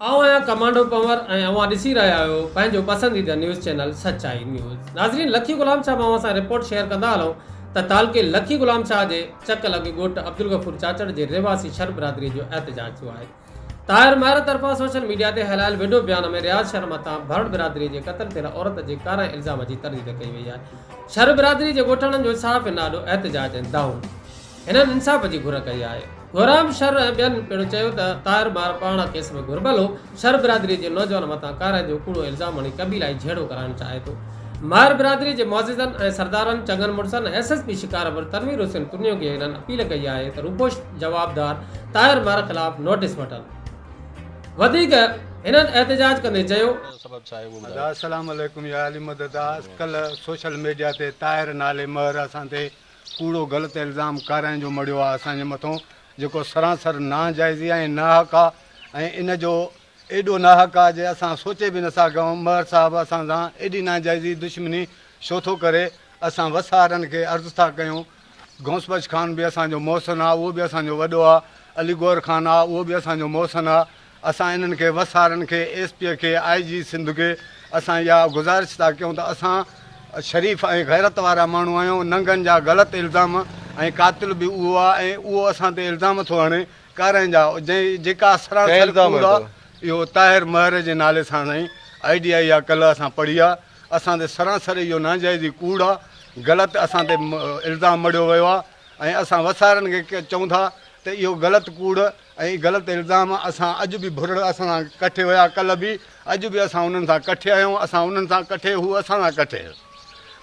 آئون آهيان ڪمانڊو پنور ۽ اوهان ڏسي رهيا آهيو پنهنجو پسنديده نيوز چينل سچائي نيوز ناظرين لکي غلام شاهه مان اوهان سان رپورٽ شيئر ڪندا هلون ته تعلقي لکي غلام شاهه جي چڪ لڳ ڳوٺ عبدالغفور چاچڙ جي رهواسي شر برادري جو احتجاج ٿيو آهي طاهر مهر طرفان سوشل ميڊيا تي هلايل وڊيو بيان ۾ رياض شر مٿان ڀرڙ برادري جي قتل ٿيل عورت جي ڪارائين الزام جي ترديد ڪئي وئي آهي شر برادري جي ڳوٺاڻن جو صحافين آڏو احتجاج ۽ دانهون هنن انصاف جي گهر ڪئي آهي. گهرام شر ۽ ٻين پڻ چيو ته طاهر مار پاڻا ڪيس ۾ گهربل هو، شر برادري جي نوجوان مٿان ڪارائن جو ڪوڙو الزام هڻي قبيلائي جهيڙو ڪرائڻ چاهي ٿو. مار برادري جي معززن ۽ سردارن، چڱن مڙسن ۽ S S P Shikarpur Tanveer Hussain ترڃو کي هنن اپيل ڪئي آهي ته روپوش جوابدار طاهر مار خلاف نوٽيس وٺن. وڌيڪ هنن احتجاج ڪندي چيو. السلام عليڪم يا علي مدد آس ڪلهه سوشل ميڊيا تي طاهر نالي مهر اسان تي ڪوڙو غلط الزام ڪارائڻ جو مڙهيو آهي اسان جي مٿون جيڪو سرانسر ناجائزي آهي ۽ ناحق آهي ۽ ان جو ايڏو ناحق آهي جي اسان سوچي به نٿا سگهون مهر صاحب اسان سان ايڏي ناجائزي دشمني ڇو ٿو ڪري اسان وسهارن کي عرض ٿا ڪيون غوث بخش خان به اسان جو محسن آهي اهو به اسان جو وڏو آهي علي گوهر خان آهي اهو به اسان جو محسن آهي اسان انهن کي وسارن کي، ايس پي کي، آء جي سنڌ کي اسان اها گذارش ٿا ڪيون ته اسان شريف ۽ غيرت وارا ماڻهو آهيون، ننگن جا غلط الزام ۽ قاتل به اهو آ ۽ اهو اسان تي الزام ٿو هڻي ڪارائين جا جنهن جيڪا سراسر ڪوڙ آ، اهو طاهر مهر جي نالي سان سائين آء ڊي آئي آ ڪلهه اسان پڙهي آ، اسان تي سراسر اهو ناجائزي ڪوڙ آ، غلط اسان تي الزام مڙهيو ويو آ ۽ اسان وسارن کي چئون ٿا ته اهو غلط ڪوڙ. اهي غلط الزام اسان اڄ به ڀرڙ اسان سان ڪٺي هيا ڪلهه به اڄ به اسان انهن سان ڪٺي آهيون اسان انهن سان ڪٺي هو اسان سان ڪٺي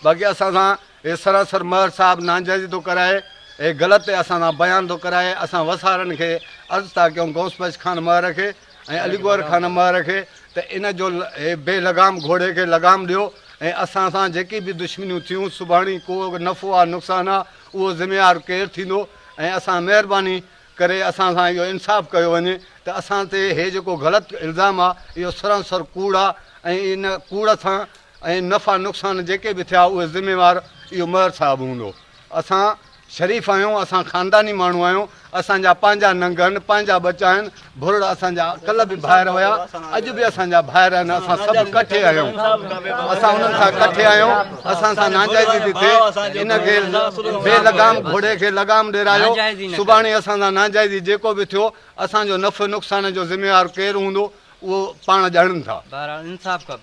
باقي اسان سان هي سراسر مهر صاحب ناجائزي ٿو ڪرائي هي غلط تي اسان سان بيان ٿو ڪرائي اسان وسارن کي عرض ٿا ڪيون غوث بخش خان مهر کي ۽ علي گوهر خان مهر کي ته ان جو هي بي لغام گهوڙي کي لغام ڏيو ۽ اسان سان جيڪي به دشمنيون ٿيون سڀاڻي ڪو نفعو آ نقصان آ اهو ذميوار ڪير ٿيندو ۽ اسان مهرباني ڪري اسان سان اهو انصاف ڪيو وڃي ته اسان تي هي جيڪو غلط الزام آ اهو سرانسر ڪوڙ آ ۽ ان ڪوڙ سان ۽ نفع نقصان جيڪي به ٿيا اهي ذميوار اهو مهر صاحب هوندو اسان شريف آهيون اسان خانداني ماڻهو آهيون اسان جا پنهنجا ننگ آهن پنهنجا ٻچا آهن ڀرڙ اسان جا ڪل به ڀائر هيا اڄ به اسان جا ڀائر آهن اسان سڀ ڪٺي آهيون اسان انهن سان ڪٺي آهيون اسان سان ناجائزي ٿي ٿئي، ان کي بي لگام گهوڙي کي لگام ڏيرايو، سڀاڻي اسان سان ناجائزي جيڪو به ٿيو، اسان جو نفع نقصان جو ذميوار ڪير هوندو، اهو پاڻ ڄاڻن ٿا. بهرحال انصاف کپي.